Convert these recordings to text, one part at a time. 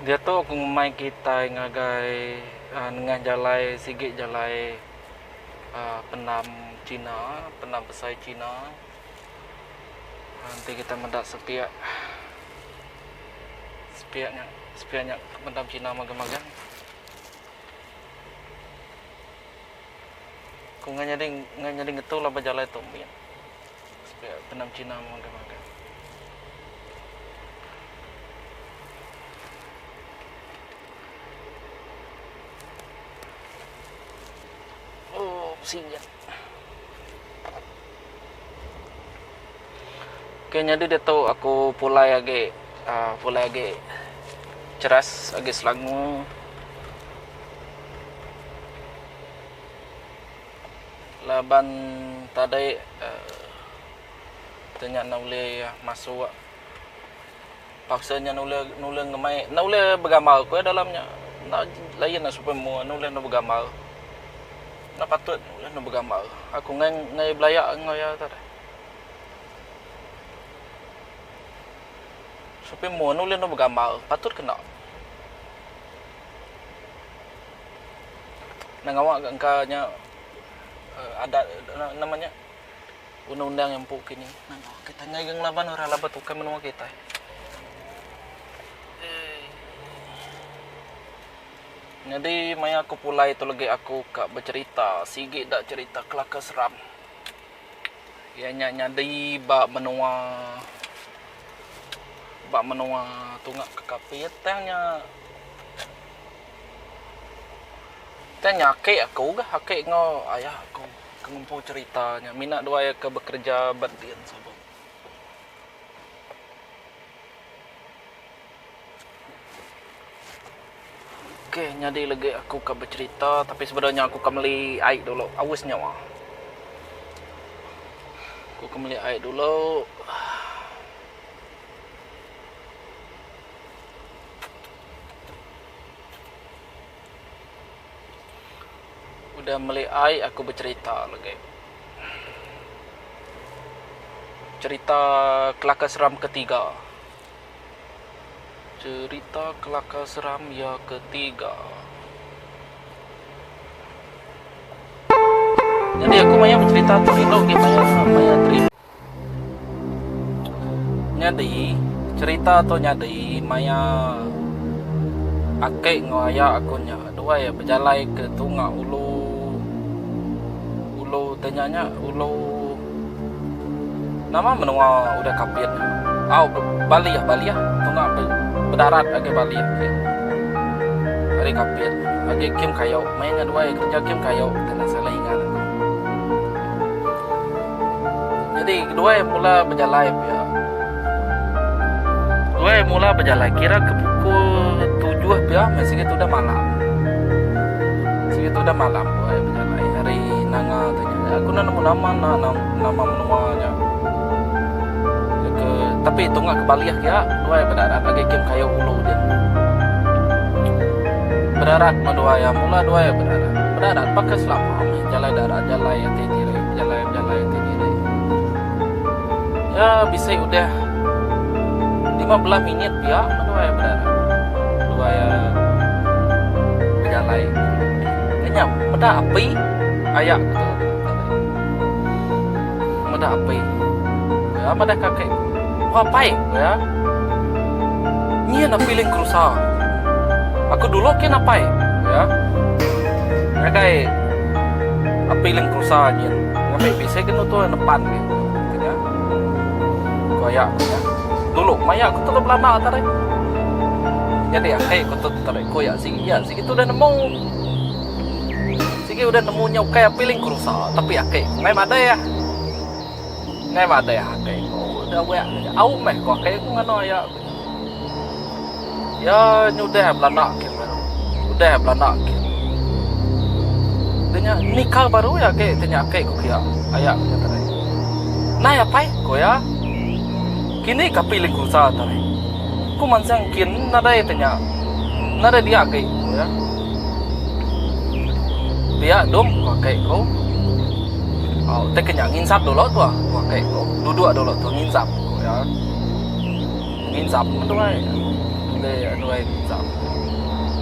Diatu aku ngemai kitai ngagai nengah jalai sigi jalai pendam China, pendam besai China. Enti kita meda sepiak, sepiak nya, sepiak nya ke meda bekina magang-magang. Ku ngai nyadi, ngai nyadi ngetu lah ba jalai tu mit. Sepiak bendar bekina magang-magang. Ooh, singget. Ke nyadi diatu aku pulai agi uhh pulai agi cheras agi selangu. Laban tadi uhh tu nya enda ulih masuk. Paksa nya nulai nulai ngemai enda ulih begambar ku iya dalam nya. Enda lain nya supaya mua enda ulih dep begambar. Enda patut ulih dep begambar. Aku enggai enggai belaya enggau iya tu deh. Supaya mua enda ulih dep begambar. Patut ke enda. Enda ngawa ka engka nya adat enda nama nya. Undang-undang yang empu kini nangau kitai ngagai ngelaban orang laban tukai menua kitai. Nyadi maya aku pulai tu legi aku ka becherita sigi da cherita kelaka seram iya nya nyadi ba menua ba menua tunga ke Kapit tang nya tang nya aki aku ga aki enggau ayah aku. ke ngempu cherita nya mina dua iya ke bekereja ba din Sabong. Ok nyadi legi aku ka becherita tapi sebedau nya aku ka meli ai dulu aus nyawa. Aku ke meli ai dulu. Udah meli ai aku becerita legi. Cerita kelakar seram ketiga. Cerita kelakar seram ya ketiga. Jadi aku maya becerita tu rindu gin maya maya terindu. Nyadi, cherita tu nyadi maya ake enggau aya aku nya duai bejalai ke tunga ulu ulu te nya nya ulu nama menua udah kapit nya au balih balih tunga bedarat agi balih agi ari kapit agi kim kayo maya nya duai kerja kim kayo kena selai ngaran ne. Nyadi keduai mula bejalai pia. Keduai mula bejalai kira ke pukul tujuh pia meh sigi tudah malam. Sigi tudah malam keduai bejalai ari Nanga tu nya. Nya aku enda nemu nama enda nama menua nya. Ke tapi tunga ke balih pia keduai bedarat agi ke kayu ulu din. Bedarat meh duai iya mula duai bedarat. Bedarat paka selama meh jalai darat jalai ati diri. Jalai bejalai ti diri. Ya bisi udah lima belah minit pia beduai bedara. Beduai bejalai. Kenya meda api aya ku tu. Meda api. Ya madah kaki. Wah pai ku ya. Nyin api ling kerusa. Aku dulu kin apai ku ya. Ngagai api ling Tusa nyin ngambi bisi ke nutu nepan ke. Kenya. Ko ya ko ya. Dulu maya ko telu belanda tadi. Jadi akhir ko tu tadi ko ya sigi ya sigi tu dah nemu. Sigi udah nemu nya ukai api ling ko rusa tapi akhir ko ngai madai ah. Ngai madai akhir ko udah wek au meh ko akhir ko ngano ya. Iya nyudah belanda ke baru. Udah belanda ke. Deh nya nikah baru iya agi ti nya agi ku kiya aya ku iya tadi. Nai apai ku iya. Kini kapi lingkusa tadi. Ku mansang kin nadai ti nya. Nadai dia agi ku iya. Pia dom ku ake ku. Au tei ke nya nginsap dulu tu ku ake ku. Duduk dulu tu nginsap ku iya. Nginsa pun meduai Boleh duai nginsa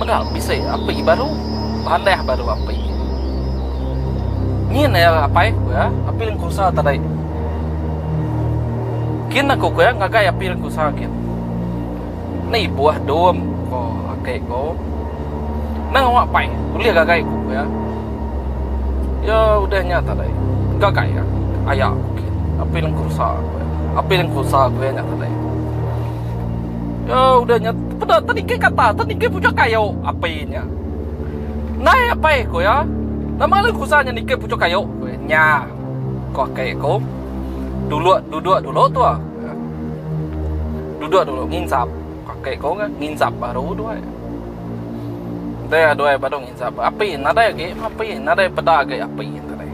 Mega bisi api baru Panah baru api Ngin ya apai ku ya Api lengku usaha tadi Kin aku ku ya Ngagai api lengku usaha kin Ni buah dom ko ake ko. Nang awak pai ulih gagai ku pia. Iya udah nya tadai. Gagai ka aya ku gin. Apin engku rusa ku iya. Apin engku rusa ku iya nya tadai. Iya udah nya peda tadi ke kata tadi ke puchok kayo api nya. Nai apai ku iya. Nama lalu engku rusa nya nike puchok kayo ku iya. Nya ko ake ko. Dulok dudok dulu tua. Duduk dulu nginsap. Pakai kau kan nginsap baru duai. Dia duai baru nginsap. Api nadai agi api nadai peda agi api nadai.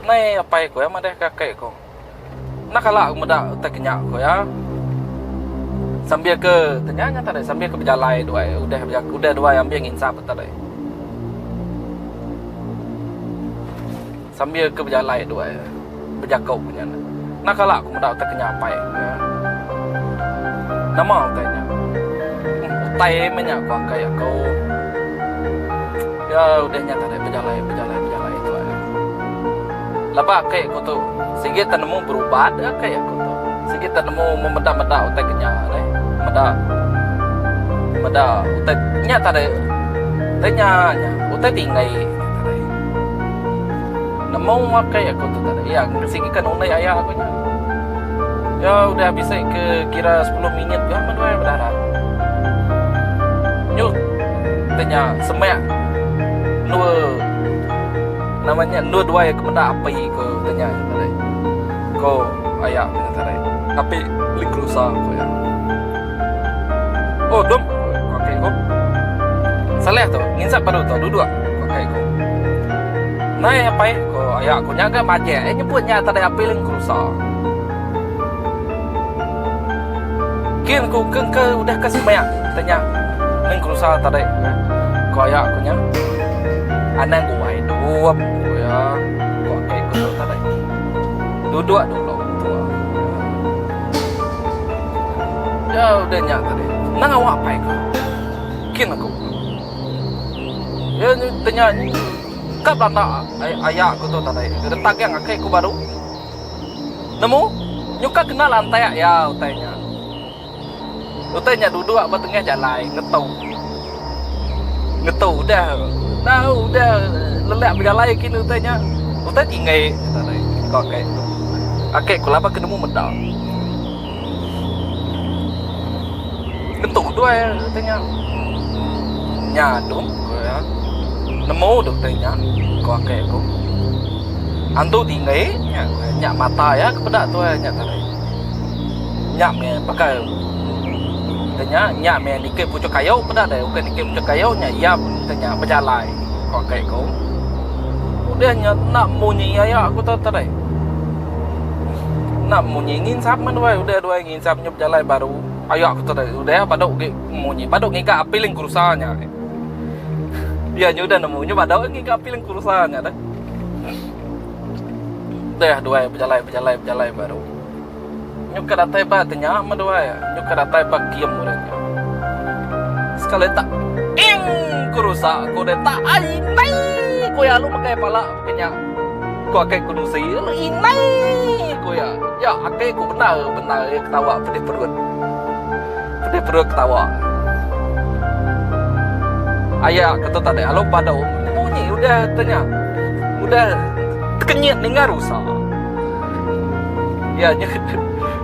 Nai apai ku ya madahka akai ku. Enda kala aku meda utai kinya ku ya. Sambil ke kinya nya tadi sambil ke bejalai duai udah udah duai ambi nginsap tadi. Sambil ke bejalai dua iya bejaku ku nya. Nah kala ku meda utai ke nya apai ku iya. Nama utai nya? Em utai meh nya ku akai aku. Iya udah nya tadi bejalai bejalai bejalai dua iya. Laba akai aku tu sigi tak nemu berubat iya akai aku tu. Sigi tak nemu memeda meda utai ke nya deh. Meda meda utai nya tadi. Utai nya nya utai tinggi. Nemu makai aku tu tadi. Ya, ngasih ikan unai ayah aku nya. Ya, udah habis eh, ke kira 10 minit ya menuai udah dah. Nyuk tanya semak dua namanya dua dua ke benda api ke tanya tadi. Ko ayah aku tadi. Api lingkrusa ko ya. Oh dum, ku aka iku. Saleh tu, nginsap baru tu duduk, ku aka iku. Nai apai, ku aya aku nya ga majek iya nyebut nya tadai apil ngerusa. Kin ku ke engka udah ka semaya kita nya ngerusa tadi, ku aya aku nya. Anang guai dum, ku iya, ku aka iku tu tadi. Duduk dulu, ku tua. Nya udah nya tadi. Nang awak apai aku. Kin aku. Iya nya tanya nya ka belanda aya aku tu tadi. Retak aja ngagai aku baru. Nemu nyuka kenal antek iya utai nya. Utai nya duduk ba tengah jalai ngetu. Ngetu udah. Nah udah lelak bejalai kin utai nya. Utai ti enggai ko kai tu. Ake ku laban ke nemu meda. Ngetu doi utai nya. Nya dung ku iya. Nemu deh utai nya ko ake ku. Antu ti enggai nya mata iya ke peda tuai nya tadi. Nya meh baka. Enti nya, nya meh nitih puchuk kayu peda deh. Ukai nitih puchuk kayu nya iya pun enti nya bejalai, ko kai aku. Udah nya enda munyi aya aku tu tadai. Enda munyi nginsap meh duai, udah duai nginsap nya bejalai baru aya aku tadai. Udah badu gek munyi, badu ngiga apiling kerusa nya agei. Iya nya udah nemu nya badu ngiga apiling kerusa nya deh. Udah duai bejalai bejalai bejalai baru. Nyu ka datai ba ke nya meduai nyu ka datai ba kiem urang nya. Sekali tak ing ku rusa ko deh tak ai indai ko ya alu megai pala ba ke nya ko akai ko nusi alu indai ko ya ya akai ko bendar bendar ya ketawa pedih perut pedih perut ketawa aya ko tu tadi alu padu munyi munyi udah ke nya udah tekenyit ninga rusa. Iya nya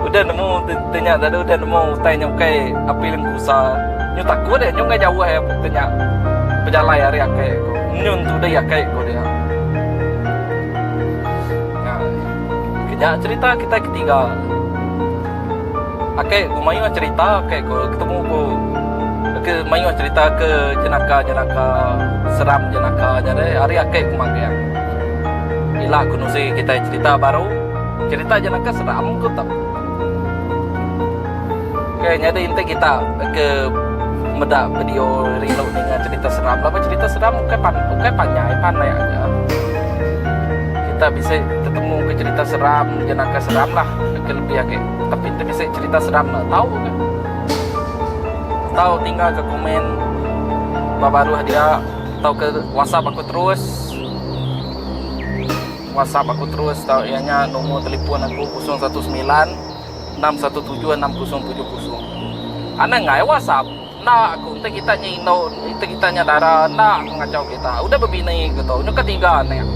udah nemu te nya lalu udah nemu utai nya ukai api lengku sa. Nyu takut iya nyu ngah jauh iya te nya pejalai ari akai ko. Nyu entudi akai ko dia. Nya keja cherita kitai ke tiga. Akai ko mayuh cherita akai ko ketemu ko ke mayuh cherita ke jenaka-jenaka seram jenaka nya deh ari akai ko magang. Ila ku nuzi kitai cerita baru, cerita je naka seram ku tu. Ok nyadi enti kita ke meda video rindu ninga cerita seram laban cerita seram ukai pan ukai panjai pandai aja. Kita bisi tetemu ke cerita seram je naka seram lah ke lebih agi tapi enti bisi cerita seram ne tau ke. Tau tinggal ke komen ba baruh dia tauka wasap aku terus. WhatsApp aku terus tau iya nya nombor telefon aku 0196176070. Anang ai WhatsApp. Enda aku enti kita nya indu enti kita nya dara enda aku ngachau kita. Udah bebini ke tu nyuka tiga anak.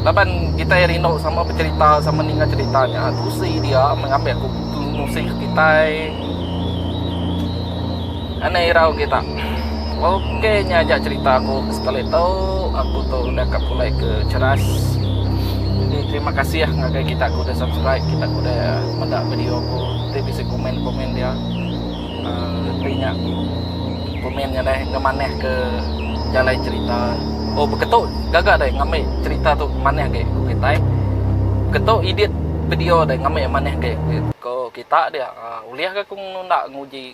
Laban kita rindu sama becerita sama ninga cerita nya tusi dia mengambi aku nusi ke kitai. Anak irau kita. Ok nya aja cerita aku sekali tu aku tu udah ka pulai ke ceras. Jadi terima kasih ah ngagai kita ku udah subscribe kita ku udah meda video aku ti bisi komen komen dia. Uh, ti nya komen nya deh ngemanah ke jalai cerita. Oh beketu gaga deh ngambil cerita tu manah ke ku kita. Eh. Beketu edit video deh ngambil manah ke ku kita dia. Uh, ulih ke aku nunda nguji